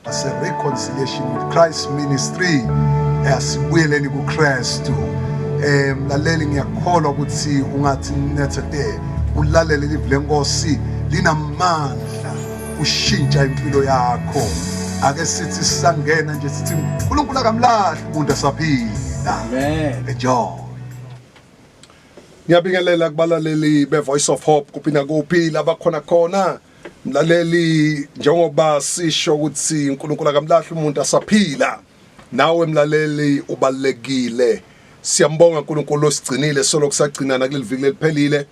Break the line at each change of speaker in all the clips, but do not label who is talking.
It's a reconciliation with Christ ministry. Asibuyeleni kuKristu. Eh mlaleli ngiyakholwa ukuthi ungathi nethete ulalele live lenkosi linamandla ushintsha impilo yakho. Ake sithi sangena nje sithi uNkulunkulu akamlahli umuntu asaphila. Amen.
Enjoy.
Ngiyabingelela kubalaleli be Voice of Hope kuphi na kuphi labakhona khona. Mlaleli njengoba sisho ukuthi uNkulunkulu akamlahli umuntu asaphila nawe mlaleli ubalekile siyambonga uNkulunkulu osigcinile solo kusagcina nakuleli viki leliphelile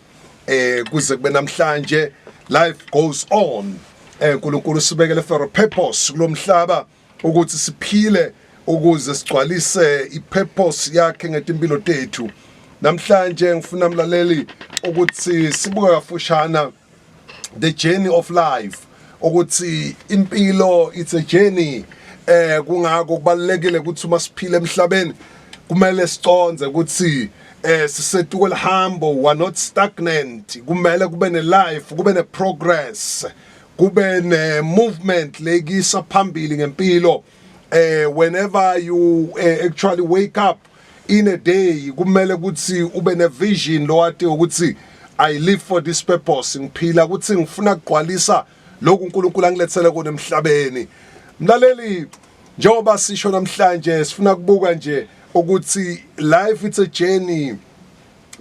eh kuze kube namhlanje life goes on eh uNkulunkulu sibekele for a purpose kulomhlaba ukuthi siphile ukuze sigcwalise ipurpose yakhe ngetimpilo tethu namhlanje ngifuna mlaleli ukuthi sibuke kafushana the journey of life ukuthi impilo it's a journey eh kungako kubalekile ukuthi uma siphila emhlabeni kumele siconze ukuthi eh sisetuko lihambo we are not stagnant kumele kube ne life kube ne progress kube ne movement lekisa phambili ngempilo eh whenever you uh, actually wake up in a day kumele ukuthi ube ne vision lowati ukuthi i live for this purpose ngiphila ukuthi ngifuna kugqwalisa lokhu uNkulunkulu angilethele kona emhlabeni mlaleli njengoba sisho namhlanje sifuna kubuka nje ukuthi life it's a journey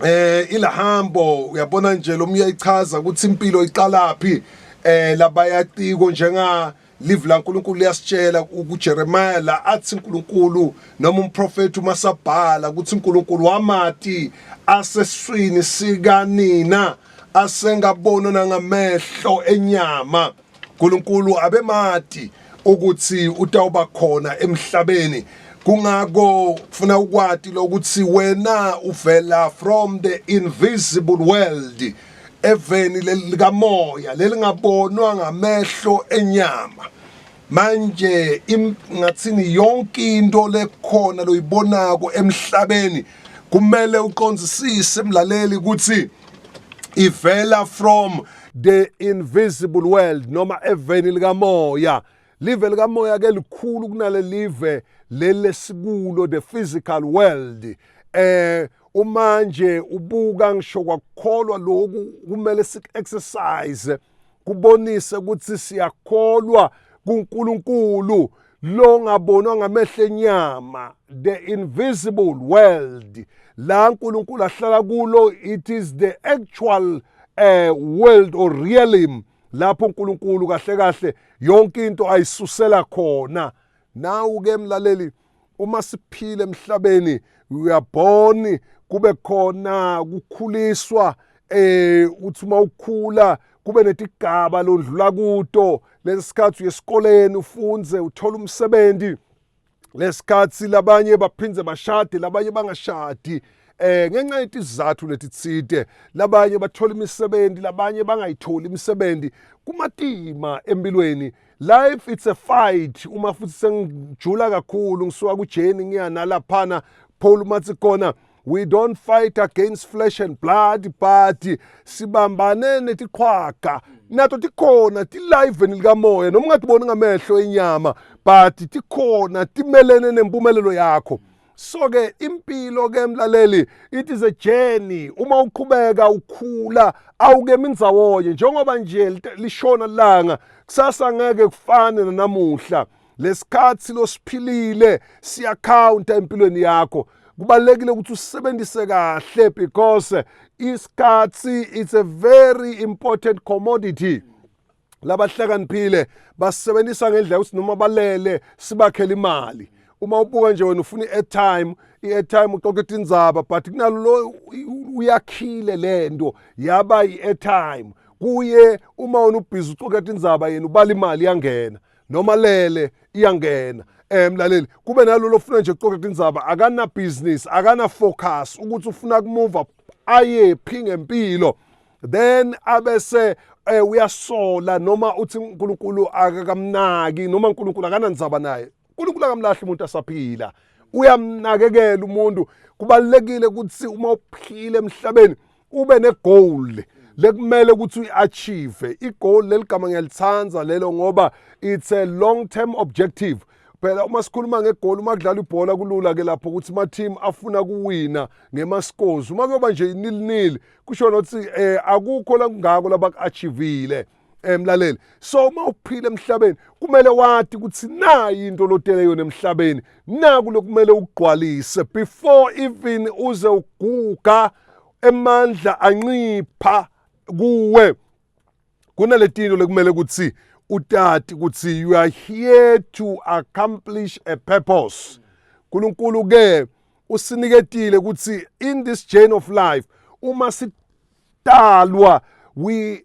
eh ilahambo uyabona nje lomuya ichaza ukuthi impilo iqalaphi eh labayatiko njenga Live la Nkulunkulu liyasitshela kuJeremiah la athi Nkulunkulu noma umprofeti uma sabhala ukuthi Nkulunkulu wamati aseswini sikanina asengabona nangamehlo enyama Nkulunkulu abemati ukuthi utawuba khona emhlabeni kungako kufuna ukwati lokuthi wena uvela from the invisible world eveni likamoya lelingabonwa ngamehlo enyama manje ngathini yonke into lekhona loyibonako emhlabeni kumele uqonzisise mlaleli ukuthi ivela from the invisible world noma eveni likamoya Live likamoya ke likhulu kunale live leli lesikulo the physical world eh uma nje ubuka ngisho kwakukholwa lokhu kumele siku-exercise kubonise ukuthi siyakholwa kuNkulunkulu lo ngabonwa ngamehlo enyama the invisible world la uNkulunkulu ahlala kulo it is the actual uh, world or realm lapho uNkulunkulu kahle kahle yonke into ayisusela khona nawu ke mlaleli uma siphile emhlabeni uyabona kube khona ukukhuliswa eh uthi uma ukhula kube netigaba londlula kuto lesikhathi uyesikoleni ufunze uthola umsebenzi lesikhathi labanye baphinde bashade labanye bangashadi eh ngenxa yetizathu letitsite labanye bathola imisebenzi labanye bangayitholi imisebenzi kumatima empilweni life it's a fight uma futhi sengijula kakhulu ngisuka kujeni ngiya nalaphana phole umathi khona we don't fight against flesh and blood but sibambane netiqhwaga nato tikhona tilayiveni likamoya noma ungatiboni ngamehlo enyama but tikhona timelene nempumelelo yakho so ke impilo ke mlaleli it is a journey uma uqhubeka ukhula awukemi ndzawonye njengoba nje lishona langa kusasa ngeke kufane nanamuhla lesikhathi silosiphilile siyakhawunta empilweni yakho kubalekile ukuthi usebenzise kahle because isikhathi it's a very important commodity labahlakaniphile basebenzisa ngendlela ukuthi noma balele sibakhele imali uma ubuka nje wena ufuna i-airtime i-airtime uxoxa itindzaba but kunalo lo uyakhile le nto yaba i-airtime kuye uma wena ubhizi uxoxa itindzaba yena ubala imali yangena noma lele iyangena eh mlaleli kube nalolo ofuna nje ukuxoxa indaba akana business akana focus ukuthi ufuna kumove aye phi ngempilo then abese eh uyasola noma uthi uNkulunkulu akakamnaki noma uNkulunkulu akanandzaba naye uNkulunkulu akamlahli umuntu asaphila uyamnakekela umuntu kubalekile ukuthi uma uphile emhlabeni ube negoal lekumele ukuthi uyi-achieve igoal leli gama ngiyalithanda lelo ngoba it's a long term objective phela uma sikhuluma ngegoli uma kudlala ibhola kulula ke lapho ukuthi ama-team afuna kuwina ngemaskozi uma kuyoba nje inilnil kusho nokuthi um akukho lakungako labaku-achivile eh mlaleli so uma uphila emhlabeni kumele wathi ukuthi nayi into lotele yona emhlabeni naku lokumele ugqwalise before even uze uguga emandla ancipha kuwe kunaletino lekumele ukuthi utati ukuthi you are here to accomplish a purpose uNkulunkulu ke usiniketile ukuthi in this journey of life uma sitalwa we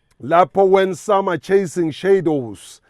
lapho when summer chasing shadows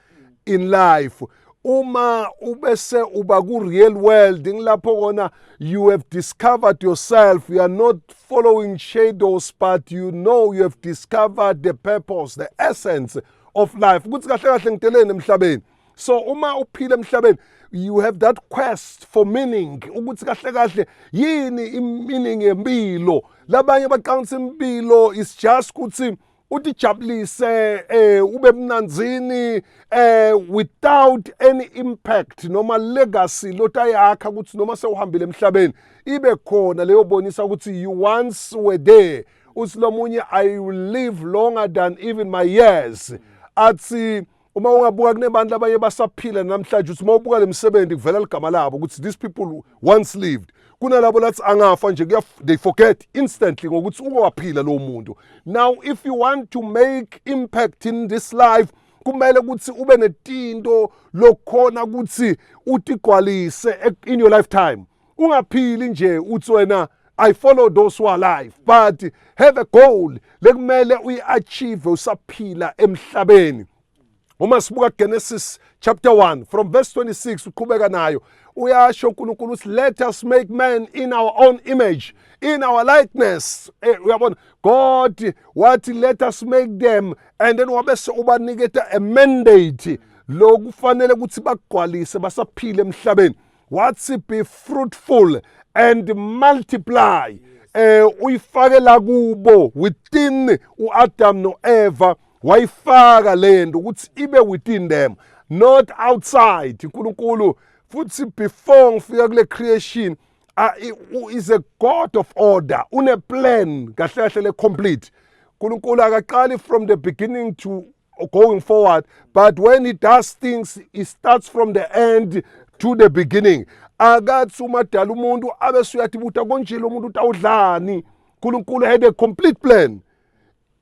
in life uma ubese uba ku real world ngilapho kona you have discovered yourself you are not following shadows but you know you have discovered the purpose the essence of life ukuthi kahle kahle ngiteleni emhlabeni so uma uphila emhlabeni you have that quest for meaning ukuthi kahle kahle yini i-meaning yempilo labanye baqangisa impilo is just ukuthi utijabulise eh ube mnanzini eh without any impact noma legacy lotayakha ukuthi noma sewuhambile emhlabeni ibe khona leyo bonisa ukuthi you once were there usilomunye i will live longer than even my years athi uma ungabuka kunebantu labanye basaphila namhlanje ukuthi uma ubuka le misebenzi kuvela ligama labo ukuthi these people once lived kunalabo lathi angafa nje they forget instantly ngokuthi ukowaphila lowo muntu now if you want to make impact in this life kumele ukuthi ube netinto lokhona ukuthi utigqwalise in your lifetime ungaphili nje uthi wena I follow those who are alive but have a goal lekumele uyiachieve usaphila emhlabeni uma sibuka Genesis chapter 1 from verse 26 uqhubeka nayo uyasho uNkulunkulu uthi let us make man in our own image in our likeness eh, uyabona God wathi let us make them and then wabese ubaniketa a mandate lokufanele ukuthi bagqwalise basaphile emhlabeni wathi be fruitful and multiply eh uyifake la kubo within uAdam noEva wayifaka lento ukuthi ibe within them not outside uNkulunkulu futhi before ngifika kule creation is a god of order une plan kahle kahle le complete uNkulunkulu akaqali from the beginning to going forward but when he does things he starts from the end to the beginning akathi umadala umuntu abe suyathi buta konje lo muntu utawudlani unkulunkulu had a complete plan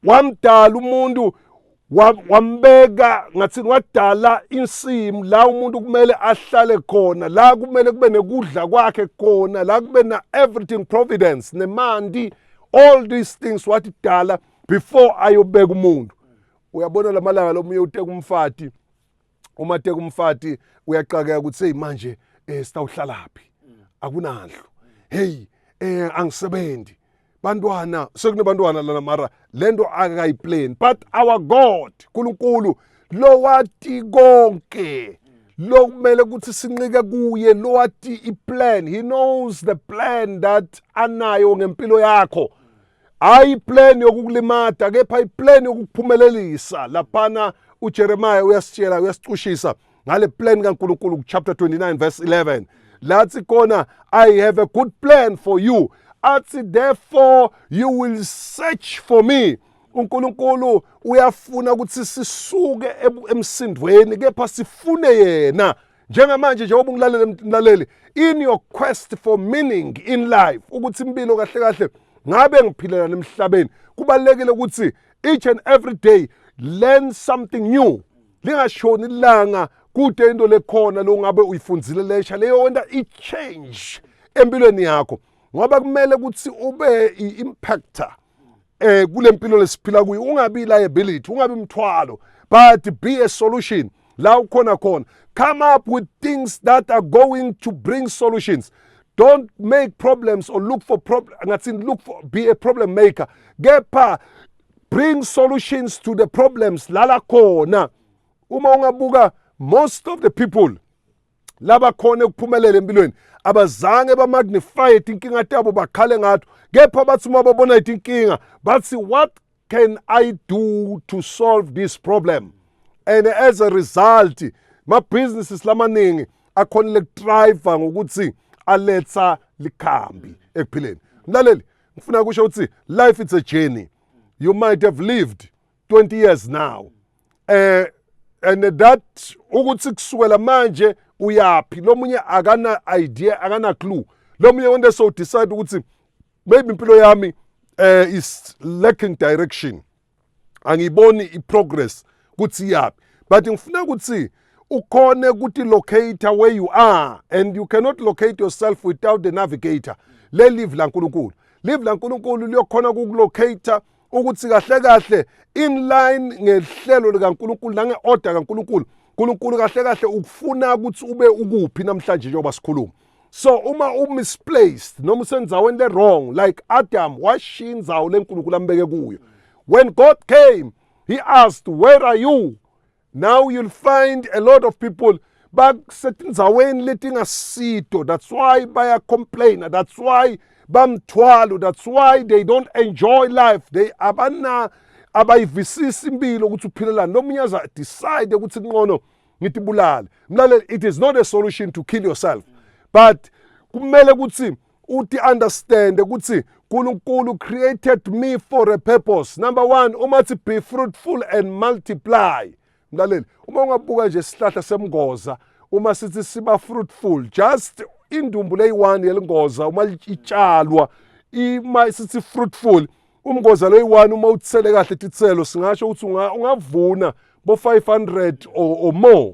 wamdala umuntu wambeka ngathini wadala insimu la umuntu kumele ahlale khona la kumele kube nekudla kwakhe khona la kube na-everything providence nemanti all these things wathi dala before ayobeka umuntu uyabona lamalanga lomunye uteka umfati uma teka umfati uyaqakeka ukuthi hey manje eh sitawuhlalaphi akunandlu hey eh angisebenzi bantwana sekunebantwana lana mara lento akayiplan but our god uNkulunkulu lowati konke lo kumele ukuthi sinqike kuye lo wathi iplan he knows the plan that anayo ngempilo yakho Hhayi iplan yokukulimata kepha iplan yokukuphumelelisa laphana uJeremiah uyasitshela uyasicushisa ngale plan kaNkulunkulu kuchapter 29 verse 11 lathi khona I have a good plan for you athi therefore you will search for me uNkulunkulu uyafuna ukuthi sisuke emsindweni kepha sifune yena njengamanje njengoba ungilalele mlaleli in your quest for meaning in life ukuthi impilo kahle kahle ngabe ngiphilela nemhlabeni kubalekile ukuthi each and every day learn something new lingashoni ilanga kude into lekhona lo ngabe uyifundzile lesha leyo wenta i-change empilweni yakho ngoba kumele ukuthi ube i-impactor eh kule mpilo lesiphila kuyo ungabi liability ungabi mthwalo but be a solution la ukhona khona come up with things that are going to bring solutions don't make problems or look for problem ngathi look for be a problem maker kepha bring solutions to the problems lala khona uma ungabuka most of the people laba khona ekuphumelela empilweni abazange bamagnify tinkinga tabo bakhale ngato kepha bathi uma babona itinkinga bathi what can i do to solve this problem and as a result mabhizinisi lamaningi akhonile kudrayiva ngokuthi aletha likhambi ekuphileni mlaleli ngifuna kusho ukuthi life it's a journey you might have lived 20 years now eh and that ukuthi kusukela manje uyaphi lomunye akana idea akana clue lomunye one day so decide ukuthi maybe impilo yami eh is lacking direction angiboni iprogress kuthi iyaphi but ngifuna ukuthi ukhone ukuthi locate where you are and you cannot locate yourself without the navigator lelive laNkulunkulu live laNkulunkulu liyokhona ukukulocate ukuthi kahle kahle in line ngehlelo likaNkuluNkulu nange order kaNkuluNkulu uNkulunkulu kahle kahle ukufuna ukuthi ube ukuphi namhlanje njengoba sikhuluma so uma umisplaced noma usenzaweni le wrong like Adam washiya inzawo leNkulunkulu ambeke kuyo when God came he asked where are you now you'll find a lot of people basetindzaweni letingasito that's why baya complainer that's why bamthwalo that's why they don't enjoy life they abana abayivisisi impilo ukuthi uphilelani lomunye aza decide ukuthi kunqono ngitibulale mlaleli it is not a solution to kill yourself but kumele ukuthi uthi understand ukuthi uNkulunkulu created me for a purpose number one uma thi be fruitful and multiply mlaleli uma ungabuka nje isihlahla semngoza uma sithi siba fruitful just indumbu leyi-one yelingoza uma itshalwa ima sithi fruitful umngoza loyi-one uma uthele kahle tithelo singasho ukuthi ungavuna bo-500 or, or more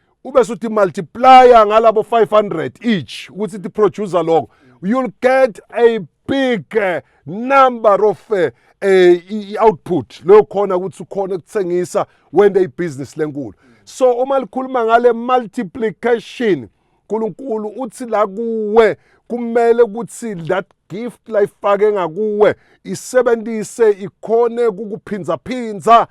ube suthi multiplier ngalabo 500 each ukuthi ti producer lokho you'll get a big eh, number of eh, eh, i-output leyo khona ukuthi ukhona ukuthengisa wende ibhizinisi lenkulu so uma likhuluma ngale multiplication uNkulunkulu uthi la kuwe kumele ukuthi that gift layifake ngakuwe isebenzise ikhone kukuphindza phindza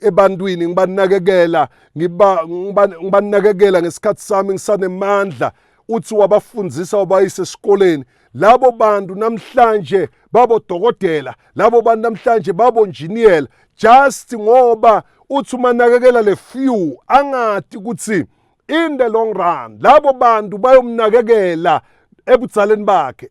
ebantwini ngibanakekela ngiba ngibanakekela ngesikhathi sami ngisanemandla uthi wabafundisa wabayise esikoleni labo bantu namhlanje babodokotela labo bantu namhlanje babonjiniyela just ngoba uthi uma nakekela le few angati ukuthi in the long run labo bantu bayomnakekela ebudzaleni bakhe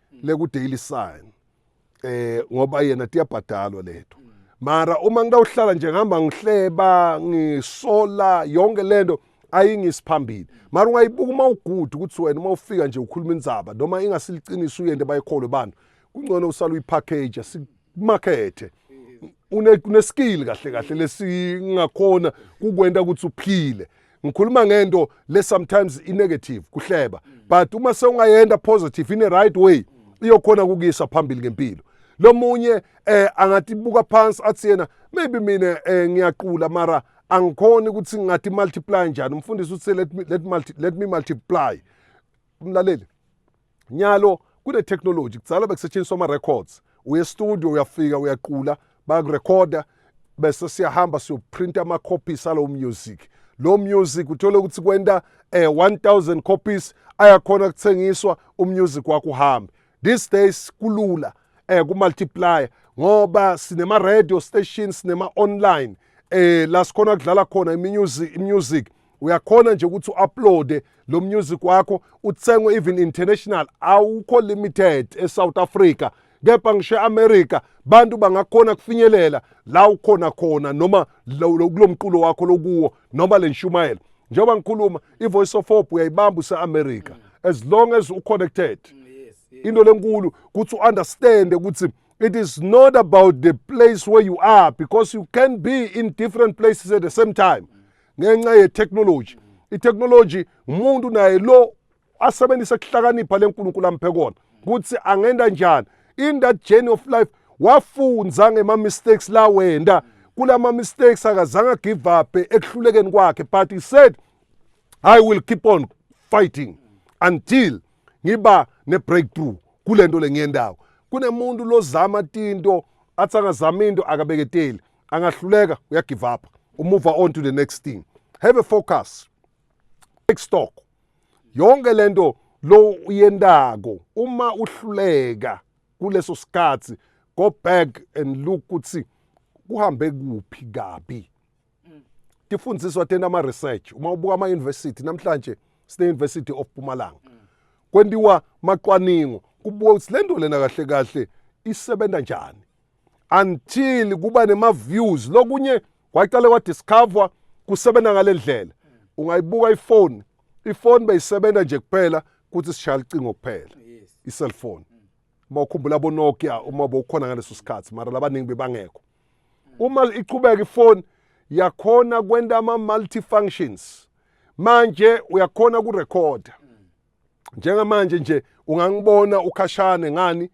le ku Daily Sun eh ngoba yena tiyabhadalwa lethu mara uma ngitawuhlala nje ngihamba ngihleba ngisola yonke lento ayingisiphambili mara ungayibuka uma ugude ukuthi wena uma ufika nje ukhuluma indzaba noma ingasiliciniso uyente bayikholwe bantu kungcono usala uyipackage kumakethe une une skill kahle kahle lesingakhona kukwenta ukuthi uphile ngikhuluma ngento le sometimes i negative kuhleba but uma sewungayenda positive in the right way iyokhona kukisa phambili ngempilo lomunye eh angatibuka phansi athi yena maybe mina eh, ngiyaqula mara angikhoni ukuthi ngathi multiply njani umfundisi uthi let me, let, multi, let me multiply umlaleli Nyalo kune-technology kudala bekusetshenziswa ama-records uye estudio uyafika uyaqula bakurekhoda bese siyahamba siyoprinta ama-copies alowo music lo music uthole ukuthi kwenta eh 1000 copies ayakhona kuthengiswa umusic wakho uhambe these days kulula eh kumultiplier ngoba sinema radio station sinema online eh la sikhona kudlala khona imusic imusic uyakhona nje ukuthi u-uploade lo music wakho uthengwe even international awukho limited esouth africa kepha ngisho e-amerika bantu bangakhona kufinyelela la ukhona khona noma kulo mculo wakho lokuwo noma le nshumayelo njengoba ngikhuluma i-voice of hope uyayibamba use-amerika as long as u-connected into lenkulu ukuthi u-understande ukuthi it is not about the place where you are because you can be in different places at the same time ngenxa yetechnology itechnology umuntu naye lo asebenzisa ukuhlakanipha lenkulunkulu amphe kona ukuthi angenda njani in that journey of life wafunza ngema mistakes la wenda kulama mistakes akazange give up ekuhlulekeni kwakhe but he said i will keep on fighting until ngiba ne breakthrough kulento lengiyendawo kunemuntu lozama tinto athi angazama into akabeketeli angahluleka uya give up u move on to the next thing have a focus take stock yonke lento lo uyendako uma uhluleka kuleso sikhathi go back and look ukuthi kuhambe kuphi kabi tifundiswa tena ama research uma ubuka ama university namhlanje sine university of Mpumalanga kwendiwa macwaningo kubuka ukuthi lento lena kahle kahle isebenza njani until kuba nema views lokunye kwaqale kwa discover kusebenza ngale ndlela ungayibuka ifoni ifoni beyisebenza nje kuphela kuthi sishaya licingo kuphela i-cellphone uma ukhumbula bonokia uma bowukhona ngaleso sikhathi mara labaningi bebangekho uma iqhubeka ifoni yakhona kwenta ama-multifunctions manje uyakhona kurekhoda njengamanje nje ungangibona ukhashane ngani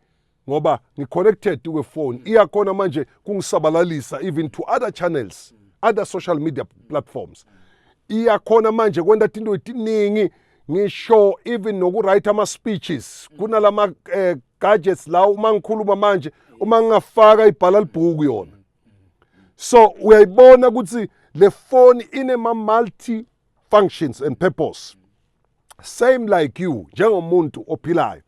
ngoba ngiconnected kwe phone iyakhona manje kungisabalalisa even to other channels other social media platforms iyakhona manje kwenta tinto etiningi ngisho even nokuwrite ama speeches kunalama eh, gadgets la uma ngikhuluma manje uma ngingafaka ibhala libhuku yona so uyayibona ukuthi le phone inema multi functions and purpose same like you njengomuntu ophilayo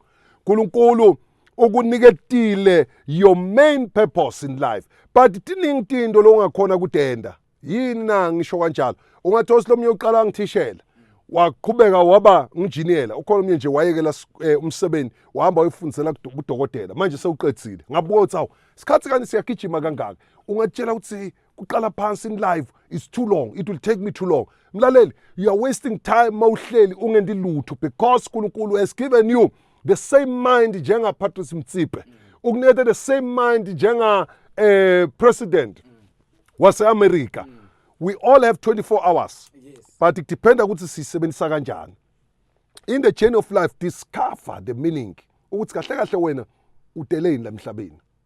uNkulunkulu ukuniketile your main purpose in life but tiningi tinto longakhona kutenda yini na ngisho kanjalo ungathi osilomunye uqala ngithishela waqhubeka waba nginjiniyela ukhona omnye nje wayekela eh, umsebenzi wahamba wayofundisela kudokotela manje sewuqedzile ngabuka ukuthi awu isikhathi kani siyagijima kangaka ungatshela ukuthi kuqala phansi in live it's too long it will take me too long mlaleli you are wasting time mawuhleli ungendi lutho because uNkulunkulu has given you the same mind njenga Patrice Mtsipe ukunethe the same mind njenga eh president wase America we all have 24 hours but it depends ukuthi sisebenzisa kanjani in the chain of life discover the meaning ukuthi kahle kahle wena udeleni la mhlabeni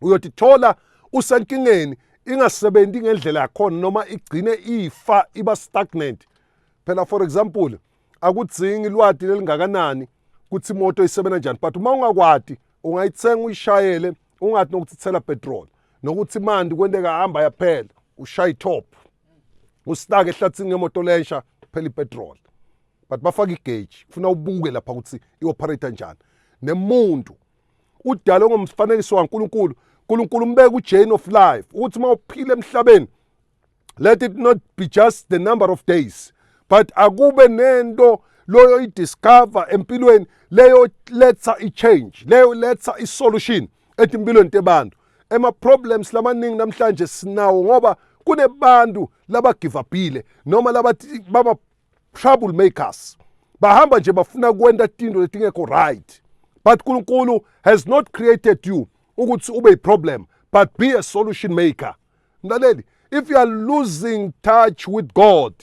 uyothi thola usenkingeni ingasebenzi ngendlela yakhona noma igcine ifa iba stagnant phela for example akudzingi lwati lelingakanani ukuthi imoto isebenza njani but uma ungakwati ungayithenga uyishayele ungathi nokuthi thela petrol nokuthi mandi kwenteka hamba yaphela ushaya itop usitake ehlathini ngemoto lensha phela ipetrol but bafaka igage kufuna ubuke lapha ukuthi ioperate njani nemuntu udalwe ngomfanekiso kaNkulunkulu uNkulunkulu umbeka ujain of life ukuthi uma uphila emhlabeni let it not be just the number of days but akube nento loyo idiscover empilweni leyo letha i-change leyo letha i-solution etimpilweni tebantu ema-problems lamaningi namhlanje sinawo ngoba kunebantu labagivabhile noma labathi trouble makers bahamba nje bafuna kwenta tinto letingekho right but nkulunkulu has not created you ukuthi ube yiproblem but be a solution maker mlaleli if you are losing touch with god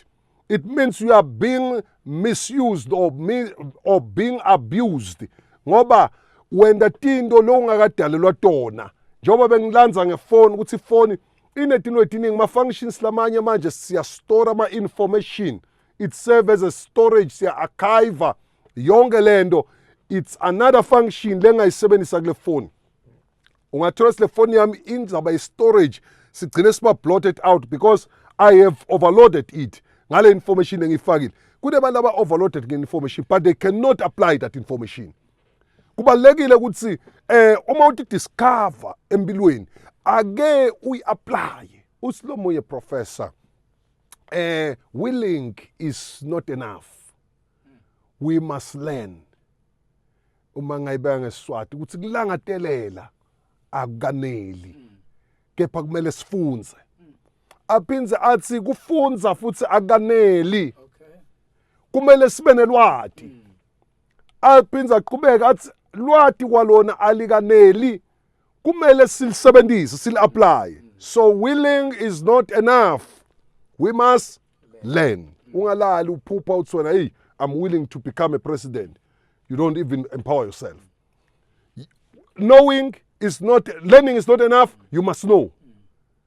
it means you are being misused or, mi or being abused ngoba wenda tinto lowungakadalelwa tona njengoba bengilanza ngefoni ukuthi ifoni inetinto etiningi ma-functions lamanye manje siyastora ama-information it serve as a storage siya-archiva yonke le nto it's another function lengayisebenzisa kule foni ungathola sile foni yami inzaba i-storage sigcine siba blotted out because i have overloaded it ngale information engiyifakile kunebantu aba-overloaded nge-information but they cannot apply that information kubalulekile ukuthi eh uma uthi discover empilweni ake uyi-apply usilomoye professor eh willing is not enough we must learn uma ngayibeka ngesiswati ukuthi kulangatelela akukaneli kepha kumele sifunze aphindze athi kufunza futhi akukaneli kumele sibe nelwati Alphinde aqhubeka athi lwati kwalona alikaneli kumele silisebenzise sili-aplaye so willing is not enough we must learn ungalali uphupha uthi wena eyi i'm willing to become a president you don't even empower yourself knowing is not learning is not enough you must know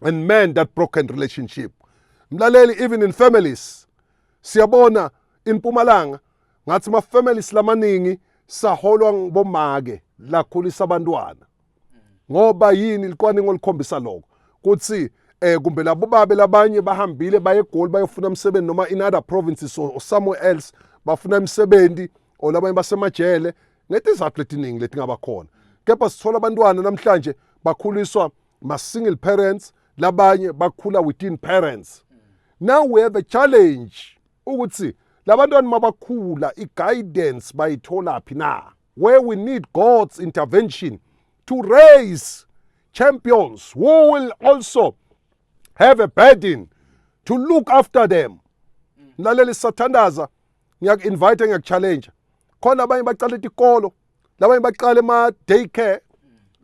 and mend that broken relationship mlaleli even in families siyabona impumalanga ngathi ma families lamaningi saholwa ngibomake lakhulisa abantwana ngoba yini licwaningo likhombisa lokho kuthi eh kumbe labo babe labanye bahambile baye egoli bayofuna umsebenzi noma in other provinces or, or somewhere else bafuna imisebenzi or labanye basemajele ngetizathu letiningi letingabakhona kepha sithola abantwana namhlanje bakhuliswa ma-single parents labanye bakhula within parents now we have a challenge ukuthi labantwana mabakhula i-guidance bayitholaphi na where we need god's intervention to raise champions who will also have a burden to look after them mlaleli sathandaza ngiyaku-invite ngiyaku-challenge khona abanye bacala itikolo labanye baqale ma-day care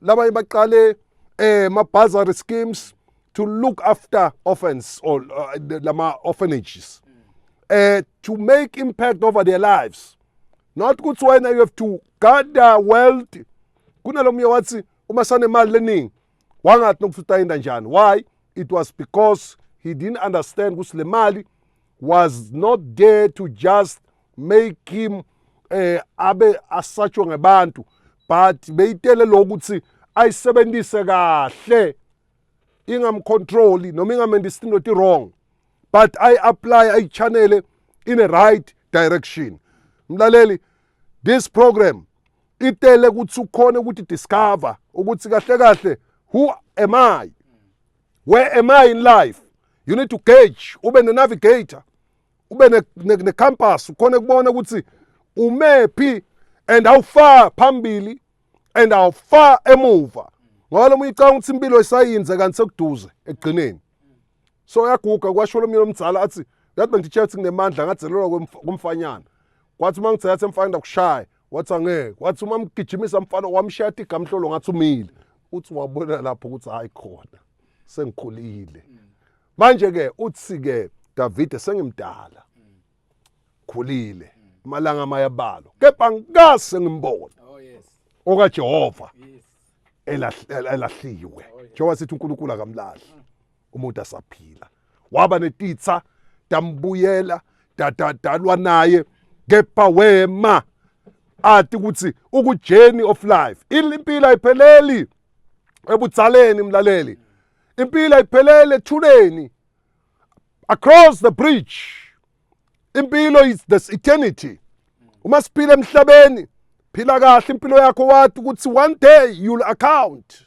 labanye baqale eh ma-bursary schemes to look after orphans or uh, lama-orphanages uh, to make impact over their lives not ukuthi wena you have to gather wealth kunalomunye wathi uma sanemali leningi wangathi nokuthi utayinda njani why it was because he didn't understand ukuthi le mali was not there to just make him eh abe asatshwe ngebantu but beyitele lokuthi ayisebenzise kahle ingamcontroli noma ingamenza isinto eti wrong but i apply i channel in a right direction mlaleli this program itele ukuthi ukhona ukuthi discover ukuthi kahle kahle who am i where am i in life you need to gauge ube ne-navigator ube ne-campus ukhona kubona ukuthi umephi and awufa phambili and awufa emuva ngoba lo munye ucanga ukuthi impilo isayinze kanti sekuduze ekugcineni so uyaguga kwasho lo munye lomzala athi yathi bengitshela ukuthi nginemandla ngazelelwa kumfanyana kwathi uma ngithe yathi emfana ndakushaya wathi angeke wathi uma mgijimisa mfana wamshiya athi igamhlolo ngathi umile uthi wabona lapho ukuthi hayi khona sengikhulile manje-ke uthi-ke davide sengimdala khulile amalanga amayabalo kepha ngase ngimbona oh, okajehova elahliwe njengoba sithi unkulunkulu akamlahli umuntu asaphila waba netitsa tambuyela dadadalwa naye kepha wema ati ukuthi ukujourney of life impilo ayipheleli ebutsaleni mlaleli impilo ayipheleli ethuleni across the bridge impilo is this eternity uma siphila emhlabeni phila kahle impilo yakho wathi ukuthi one day you'll account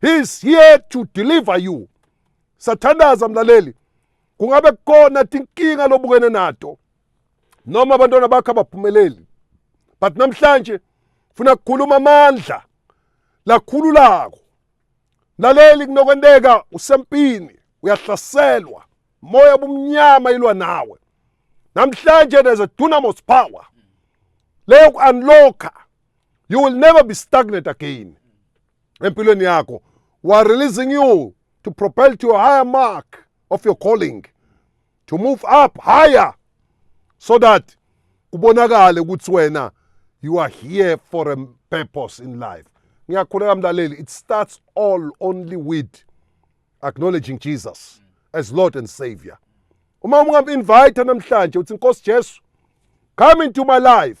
he is here to deliver you sathandaza mlaleli kungabe kukona tinkinga lobukene nato noma abantwana bakho abaphumeleli but namhlanje funa kukhuluma amandla lakhululako mlaleli kunokwenteka usempini uyahlaselwa moya obumnyama ilwa nawe namhlanje there's a dunamis power leyo ku-unlocka you will never be stagnant again empilweni yakho we are releasing you to propel to a higher mark of your calling to move up higher so that kubonakale ukuthi wena you are here for a purpose in life ngiyakhuleka mlaleli it starts all only with acknowledging jesus as lord and savior uma ungamu-invayitha namhlanje uthi nkosi jesu come into my life